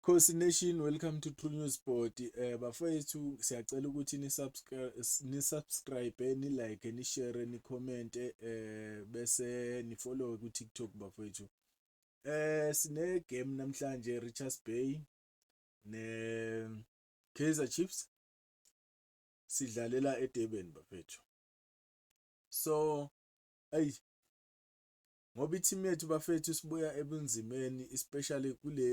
Khosi Nation welcome to True News Board eh bafethu siyacela ukuthi ni subscribe ni subscribe ni like ni share ni comment eh bese ni follow ku TikTok bafethu eh sine game namhlanje Richards Bay ne Kaizer Chiefs sidlalela eDurban bafethu so ayi ngoba i-team yethu bafethu sibuya ebunzimeni especially kule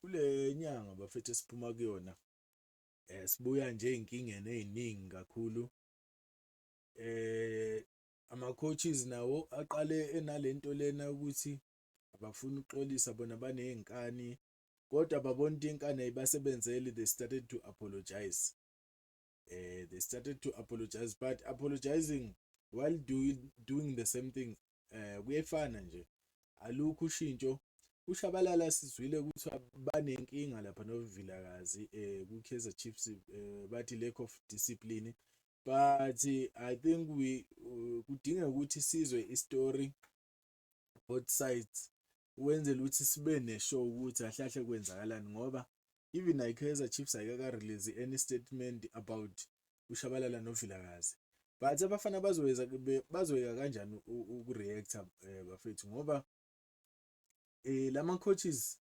kule nyanga bafethu esiphuma kuyona eh sibuya nje izinkingeni eziningi kakhulu eh ama coaches nawo aqale enalento lena ukuthi abafuni ukuxolisa bona banezinkani kodwa babona into inkani ayibasebenzeli they started to apologize uh, they started to apologize but apologizing while doing, doing the same thing uh, kuyefana nje alukho ushintsho ushabalala sizwile ukuthi banenkinga lapha novilakazi um eh, kwi-kaizer chiefs um bathi lack of discipline but i think we uh, kudinga ukuthi sizwe istory both sides ukwenzela ukuthi sibe ne-show ukuthi kahle kahle kwenzakalani ngoba even ikaizer chiefs ayikaka-release any statement about ushabalala novilakazi but abafana bazoyeza bazoyeka kanjani uku-reacta um bafethu ngoba um eh, lama-coaches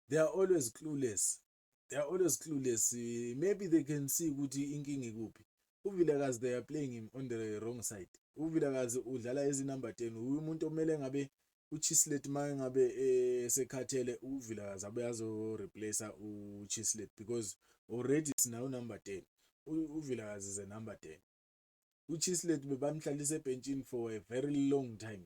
they are always clueless they are always clueless maybe they can see ukuthi inkinga ikuphi uvilakazi they are playing him on the wrong side uvilakazi udlala ezinumber 10 umuntu omele ngabe uchislet maye ngabe esekhathele uvilakazi abe azo replace uchislet because already sinawo number 10 uvilakazi is a number 10 uchislet bebamhlalisa ebhentshini for a very long time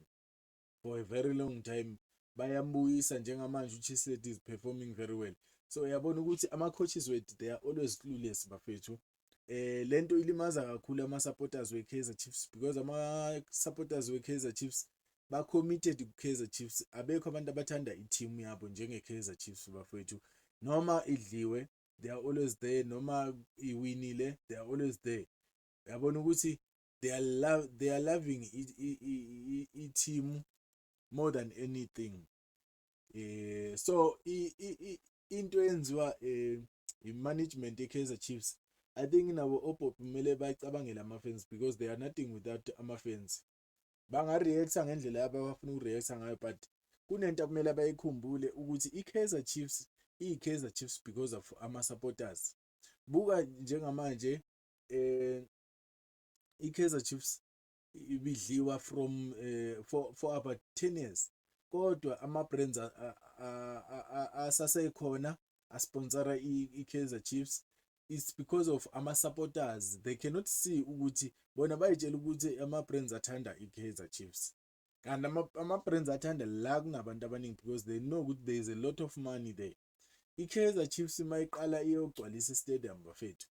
for a very long time bayambuyisa njengamanje uChislett is performing very well so uyabona ukuthi ama coaches wethu they are always clueless bafethu eh lento ilimaza kakhulu ama supporters we Kaizer Chiefs because ama supporters we Kaizer Chiefs ba committed ku Kaizer Chiefs abekho abantu abathanda i team yabo njenge Kaizer Chiefs bafethu noma idliwe they are always there noma iwinile they are always there yabona ukuthi they are love they are loving i-team more than anything eh so into eyenziwa eh i-management ye-Kaizer Chiefs I think nabo oPop kumele bacabangele ama-fans because they are nothing without ama-fans banga-reacta ngendlela yabo abafuna uku-reacta ngayo but kunento okumele bayikhumbule ukuthi i-Kaizer Chiefs iyi-Kaizer Chiefs because of ama-supporters buka njengamanje eh iKaizer Chiefs ibidliwa from uh, for, for about 10 years kodwa ama-brands asasekhona asponsora i-Kaizer Chiefs it's because of ama-supporters they cannot see ukuthi bona bayitshela ukuthi ama-brands athanda i-Kaizer Chiefs kanti ama-brands athanda la kunabantu abaningi because they know ukuthi there is a lot of money there i-Kaizer Chiefs uma iqala iyogcwalisa i-stadium bafethu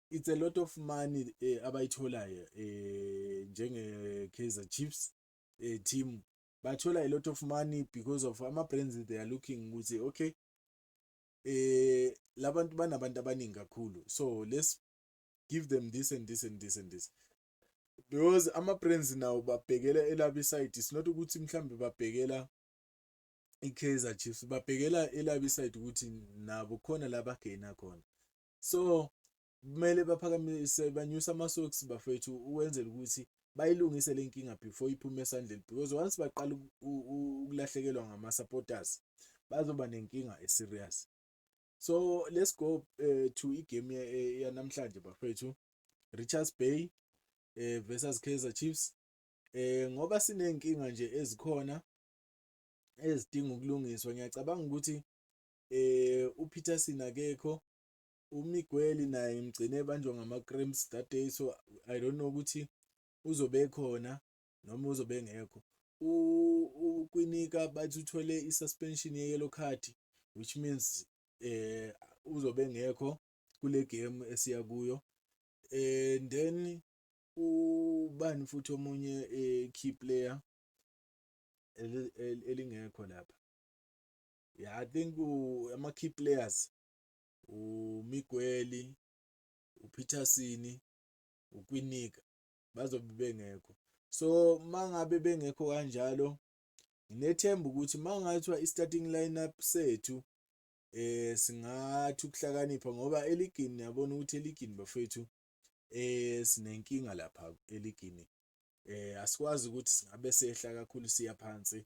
it's a lot of money eh, abayitholayo eh, njenge Kaizer Chiefs eh, team bathola a lot of money because of ama brands they are looking ukuthi okay eh labantu banabantu abaningi kakhulu so let's give them this and this and this and this because ama brands nawo babhekela elabi side it's not ukuthi mhlambe babhekela iKaizer Chiefs babhekela elabi side ukuthi nabo khona laba gaina khona so kumele baphakamise banyusa amasocks bafethu ukwenzela ukuthi bayilungise le nkinga before iphume esandleni because once baqala ukulahlekelwa ngama-supporters bazoba nenkinga e-serious so let's go uh, to igame eh, yanamhlanje bafethu richards bay uh, versus kaizer chiefs um ngoba siney'nkinga nje ezikhona ezidinga ukulungiswa ngiyacabanga ukuthi eh uPeterson akekho uMiguel naye ngigcine ebanjwa ngama cramps that day so i don't know ukuthi uzobe khona noma uzobe ngekho ukwinika bathi uthole i-suspension ye-yellow card which means eh uzobe ngekho kule game esiya kuyo eh then ubani futhi omunye eh, key player elingekho lapha Yeah, I think ama key players uMigueli, uPeterson, uKwinika bazobe bengekho. So mangabe bengekho kanjalo nginethemba ukuthi mangathiwa i-starting lineup sethu eh singathi ukuhlakanipha ngoba eligini yabona ukuthi eligini bafethu eh sinenkinga lapha eligini eh asikwazi ukuthi singabe sehla kakhulu siya phansi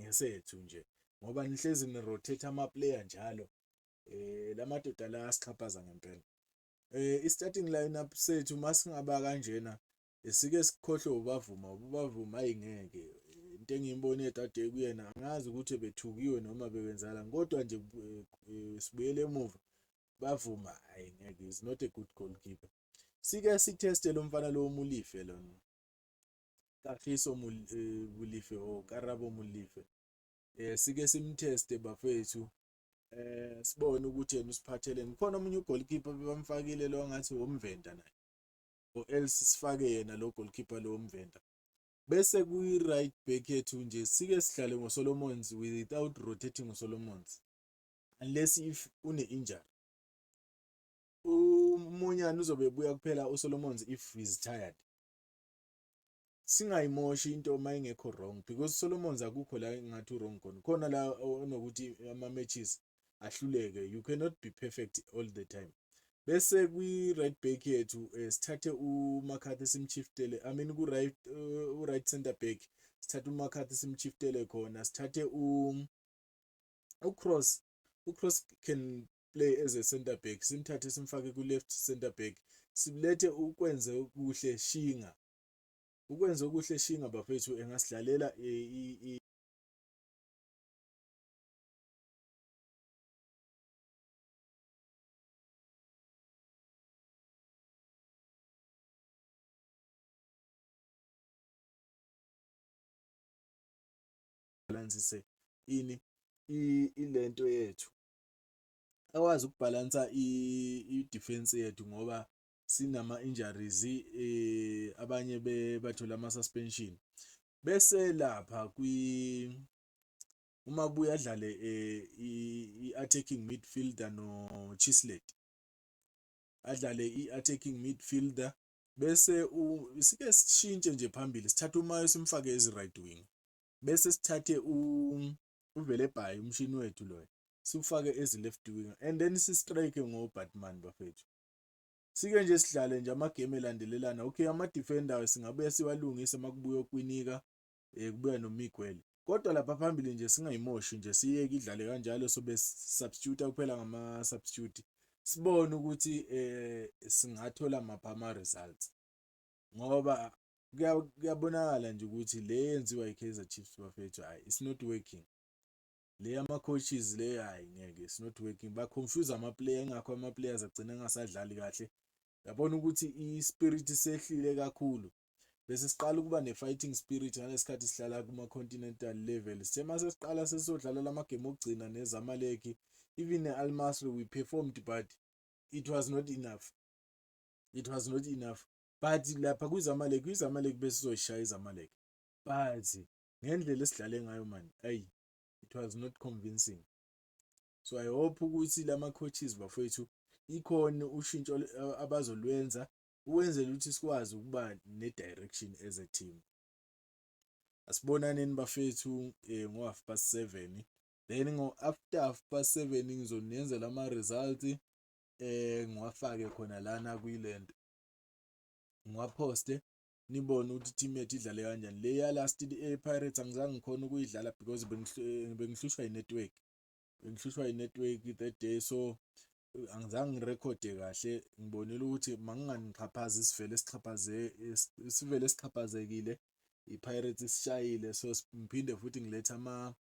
ngesethu nje ngoba nihlezi ni rotate ama player njalo eh lamadoda la asixhaphaza ngempela eh i starting lineup sethu masingaba kanjena esike sikhohlwe ubavuma ubavuma ayingeke into engiyimbone kade kuyena angazi ukuthi bethukiwe noma bebenzala kodwa nje eh, eh, sibuyele emuva bavuma hayi ngeke is not a good goalkeeper sike sitheste lo mfana lo umulife lona Kagiso eh, Molefe or Karabo Molefe eh sike simteste bafethu eh sibone ukuthi yena usiphatheleni khona omunye ugoalkeeper bebamfakile lo ngathi womvenda naye or else sifake yena lo goalkeeper lo womvenda bese kuyi right back yethu nje sike sidlale ngoSolomons without rotating ngoSolomons unless if une injury umunyana uzobe buya kuphela uSolomons if is tired singayimoshi into uma ingekho wrong because Solomons akukho la engathi wrong khona khona la onokuthi ama matches ahluleke you cannot be perfect all the time bese kwi right back yethu eh, sithathe uMcCarthy simchiftele i mean ku right eh, u right center back sithathe uMcCarthy simchiftele khona sithathe u uCross uCross can play as a center back simthathe simfake ku left center back sibulethe ukwenze kuhle shinga ukwenze okuhle shinga bafethu engasidlalela e, balance ini ilento yethu akwazi ukubhalansa i-defense yethu ngoba sinama injuries eh abanye bathola ama suspension bese lapha kwi uma buya dlale eh, i-attacking midfielder no Chislet adlale i-attacking midfielder bese sike sishintshe nje phambili sithatha umayo simfake ezi right wing bese sithathe u uvele bhayi umshini wethu loyo siwufake as left winger and then si strike ngo Batman bafethu sike nje sidlale nje ama game elandelelana okay ama defender singabuya siwalungise makubuya okwinika eh kubuya no Miguel kodwa lapha phambili nje singayimoshi nje siyeke idlale kanjalo sobe substitute kuphela ngama substitute sibone ukuthi eh singathola mapha ama results ngoba kuyabonakala nje ukuthi le yenziwa i-Kaizer Chiefs bafethu hayi it's not working le yama-coaches le hayi ngeke it's not working ba-confuse ama-player ingakho ama-players agcina engasadlali kahle yabona ukuthi i-spirit sehlile kakhulu bese siqala ukuba ne-fighting spirit ngalesikhathi sihlala kuma-continental level sithe mase siqala sesizodlala lamagame okugcina nezamaleki even ne-almasri we performed but it was not enough it was not enough but lapha kwizamalek kwizamalek besizoyishaya izamalek but ngendlela esidlale ngayo mani ayi it was not convincing so i hope ukuthi lama coaches bafowethu ikhona ushintsho abazolwenza ukwenzela ukuthi sikwazi ukuba ne-direction as a team asibonaneni bafethu um eh, ngo-half past seven then ngo-after half past seven ngizonenzela ama-results eh ngiwafake khona lana kwilento ngiwaphoste nibone ukuthi team yethu idlale kanjani le ya last eh, Pirates angizange ngikhona ukuyidlala because eh, bengihlushwa inetwork bengihlushwa inetwork that day so angizange ngirekhode kahle ngibonile ukuthi manginganixhaphazi isivele sixhaphaze isivele sixhaphazekile iPirates isishayile so ngiphinde futhi ngiletha ama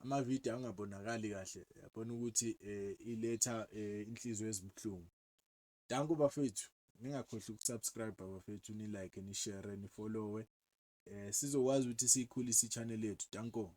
amavidiyo angabonakali kahle yabona ukuthi eh, iletha eh, inhliziyo ezibuhlungu danko bafethu ningakhohlwa ukusubscribe bafethu ni like ni share ni follow eh sizokwazi ukuthi siyikhulise ichannel yethu danko